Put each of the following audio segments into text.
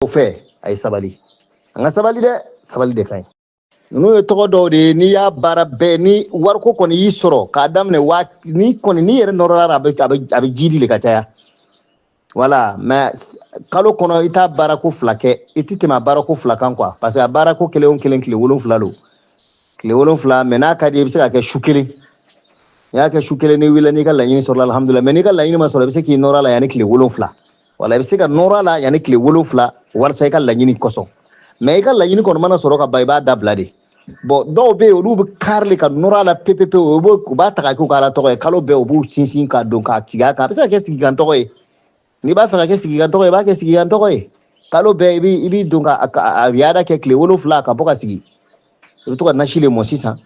o fɛ a ye sabali an ka sabali dɛ sabali de ka ɲi ninnu ye tɔgɔ dɔw de ye n'i y'a baara bɛɛ ni wariko kɔni y'i sɔrɔ k'a daminɛ waa ni kɔni n'i yɛrɛ nɔrɔla a bɛ a bɛ jidi le ka caya voilà mais kalo kɔnɔ i t'a baarako fila kɛ i tɛ tɛmɛ a baarako fila kan quoi parce que a baarako kelen o kelen tile wolonfila don tile wolonwula mais n'a ka di i bɛ se ka kɛ su kelen n'i y'a kɛ su kelen n'i wulila n'i ka laɲini sɔrɔla alihamudulila mais n'i ka laɲini ma sɔrɔ i bɛ se k'i nɔrɔ a la yanni tile wolonwula wala i bɛ se ka nɔrɔ a la yanni tile wolonwula walasa i ka laɲini kosɔn mais i ka laɲini kɔni mana sɔrɔ ka ban i b'a dabila de bon dɔw bɛ yen olu bɛ kari le ka nɔrɔ a la pepepewu u b'a ta ka k'u ka ala tɔgɔ ye kalo bɛɛ u b'u sinsin ka don k'a tigɛ a kan a bɛ se ka kɛ sigikan tɔgɔ ye n'i b'a fɛ ka kɛ sigikan tɔgɔ ye i b'a kɛ sigikan tɔgɔ ye kalo bɛɛ i b'i i b'i don ka a ka- a riyada kɛ tile wolonfila ka bɔ ka sigi i bɛ to ka nasi le mɔ sisan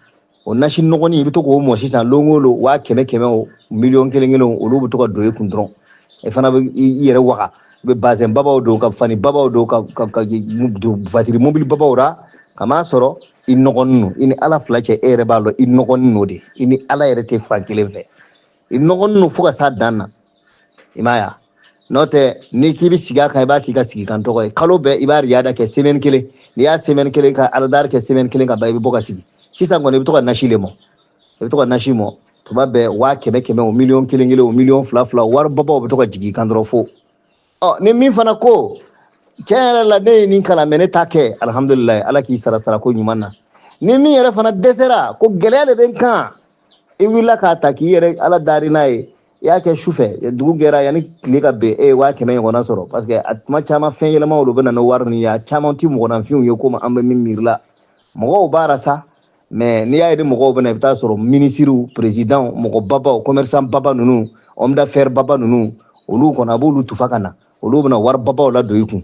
o nasi nɔgɔnin i bɛ to k'o mɔ sisan lon o lon waa kɛmɛ kɛmɛ o miliyɔn kelen kelen o olu bɛ to ka don i kun dɔrɔn i fana bɛ i i yɛrɛ waga i bɛ bazɛn babaw don ka fani babaw don ka ka ka don vatiri mobili babaw ra k'a masɔrɔ i nɔgɔnin don i ni ala fila cɛ e yɛrɛ b'a dɔn i nɔgɔnin don de i ni ala yɛrɛ tɛ fan kelen fɛ i nɔgɔnin don fo ka s'a dan na i m'a ye n'o tɛ n'i k'i bɛ sigi a kan i b'a k'i ka sigikan tɔgɔ ye kalo bɛɛ i b'a riyada kɛ semaine kelen n'i y'a semaine kelen ka aladari kɛ semaine kelen ka ban i bɛ bɔ ka sigi sisan kɔni i bɛ to ka nasi le mɔ i bɛ to ka nasi mɔ tuma bɛɛ waa kɛmɛ kɛmɛ o miliyɔn kelen kelen o miliyɔn fila fila wari babaw bɛ to ka jigin i kan dɔrɔn fo ɔ ni min fana ko tiɲɛ yɛrɛ la ne ye nin kalan mɛ ne t'a kɛ alihamudulilayi ala k'i sara sara ko ɲuman na ni min yɛrɛ fana dɛsɛra ko gɛlɛya de bɛ n kan i wulila k'a ta k'i yɛrɛ ala dari n'a ye i y'a kɛ su fɛ dugu gɛra yanni tile ka ben e ye waa kɛmɛ ɲɔgɔnna sɔrɔ parce que a tuma caman fɛn yɛlɛmaw de bɛ na ni wari nin ye a caman tɛ mɔgɔninfinw ye komi an bɛ min miiri la mɔgɔw b'a ra sa mais n'i y'a ye ni mɔgɔw bɛ na i bɛ taa sɔrɔ minisiriw perezidanw mɔgɔ babaw commerçant baba ninnu homme d'affaires baba ninnu olu kɔni a b'olu tufa ka na olu bɛna wari babaw le don i kun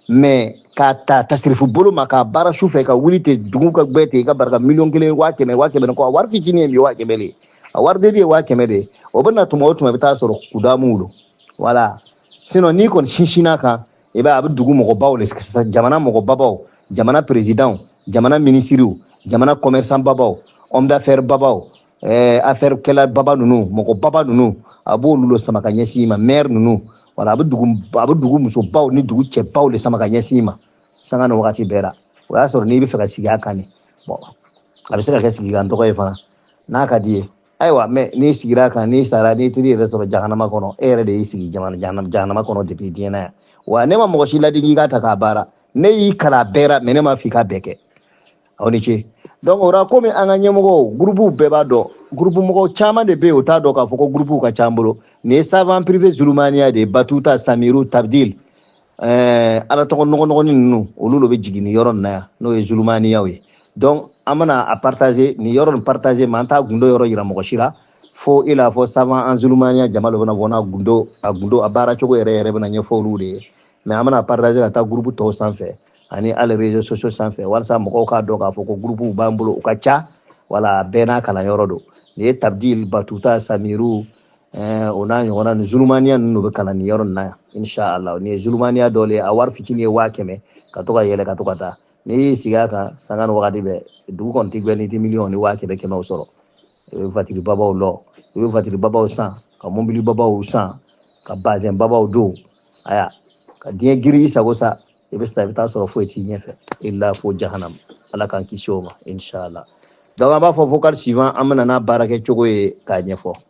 mais k'a ta tasirifu bolo ma k'a baara su fɛ ka wuli ten dugu ka gbɛ ten i ka barika miliyɔn kelen waa kɛmɛ waa kɛmɛ kɔ a wari fitinin ye bi waa kɛmɛ de ye a wari deli ye waa kɛmɛ de ye o bɛ na tuma o tuma i bɛ taa sɔrɔ kudamuw don voilà sinon n'i kɔni sinsinna a kan i b'a a bɛ dugu mɔgɔbaw le jamana mɔgɔbabaw jamana perezidanw jamana minisiriw jamana commerçant babaw homme d'affaires babaw eh, affaire kɛla baba ninnu mɔgɔ baba ninnu a b'olu le sama ka ɲɛsin i ma maire ninnu voilà a bɛ dugu a bɛ dugu musobaw ni dugu cɛbaw le sama ka ɲɛsin i ma sanga ni wagati bɛɛ la o y'a sɔrɔ n'i b'a fɛ ka sigi a kan de bon a bɛ se ka kɛ sigikan tɔgɔ ye fana n'a ka d'i ye ayiwa mais n'i sigira a kan n'i sara n'i taar'i yɛrɛ sɔrɔ jahanama kɔnɔ e yɛrɛ de y'i sigi jahanama kɔnɔ depuis diɲɛ na yan wa ne ma mɔgɔ si ladi k'i k'a ta k'a baara ne y'i kalan a bɛɛ ra mais ne m'a f'i k'a bɛɛ kɛ aw ni ce donc o ra komi an ka ɲɛmɔgɔw gurupuw bɛɛ b'a dɔn gurupu mɔgɔ caman de bɛ yen o t'a dɔn k'a fɔ ko gurupuw ka ca an bolo nin ye savant privé zulumaniya de ye batuta samiru tabdil ɛɛ ala tɔgɔ nɔgɔnɔgɔni ninnu olu lo bɛ jigin nin yɔrɔ nin na yan n'o ye zulumaniyaw ye donc an bɛna a partager nin yɔrɔ nin partager mais an t'a gundo yɔrɔ yira mɔgɔ si la fo i n'a fɔ savant an zulumaniya jama lo bɛna bɔ n'a gundo a gundo a baara cogo yɛrɛ yɛrɛ bɛna ɲɛfɔ olu de ye mais an bɛna partager ka taa groupe tɔw sanfɛ ani hali réseaux sociaux sanfɛ walasa mɔgɔw k'a dɔn k'a fɔ ko groupe b'an bolo u ka ca wala bɛɛ n'a kalanyɔrɔ don nin ye tabdil batuta samiru Eh, o n'a ɲɔgɔnna ni zulumaniya ninnu bɛ kalan nin yɔrɔ nin na yan inshallah nin ye zulumaniya dɔ le ye a wari fitinin ye waa kɛmɛ ka to ka yɛlɛ ka to ka taa n'i y'i sigi a kan sanga ni wagati bɛɛ dugu kɔni tɛ gbɛ n'i tɛ miliyɔn ni waa kɛmɛ kɛmɛw sɔrɔ i bɛ vatiri babaw lɔ i bɛ vatiri babaw san ka mobili babaw san ka bazɛn babaw don aya ka diɲɛ giri i sago sa i bɛ sa i bɛ taa sɔrɔ foyi t'i ɲɛfɛ illa fo jahanam ala k'an kisi o ma inshallah donc an b'a fɔ vocal suivant an bɛ na n'a baara kɛ cogo ye k'a ɲɛfɔ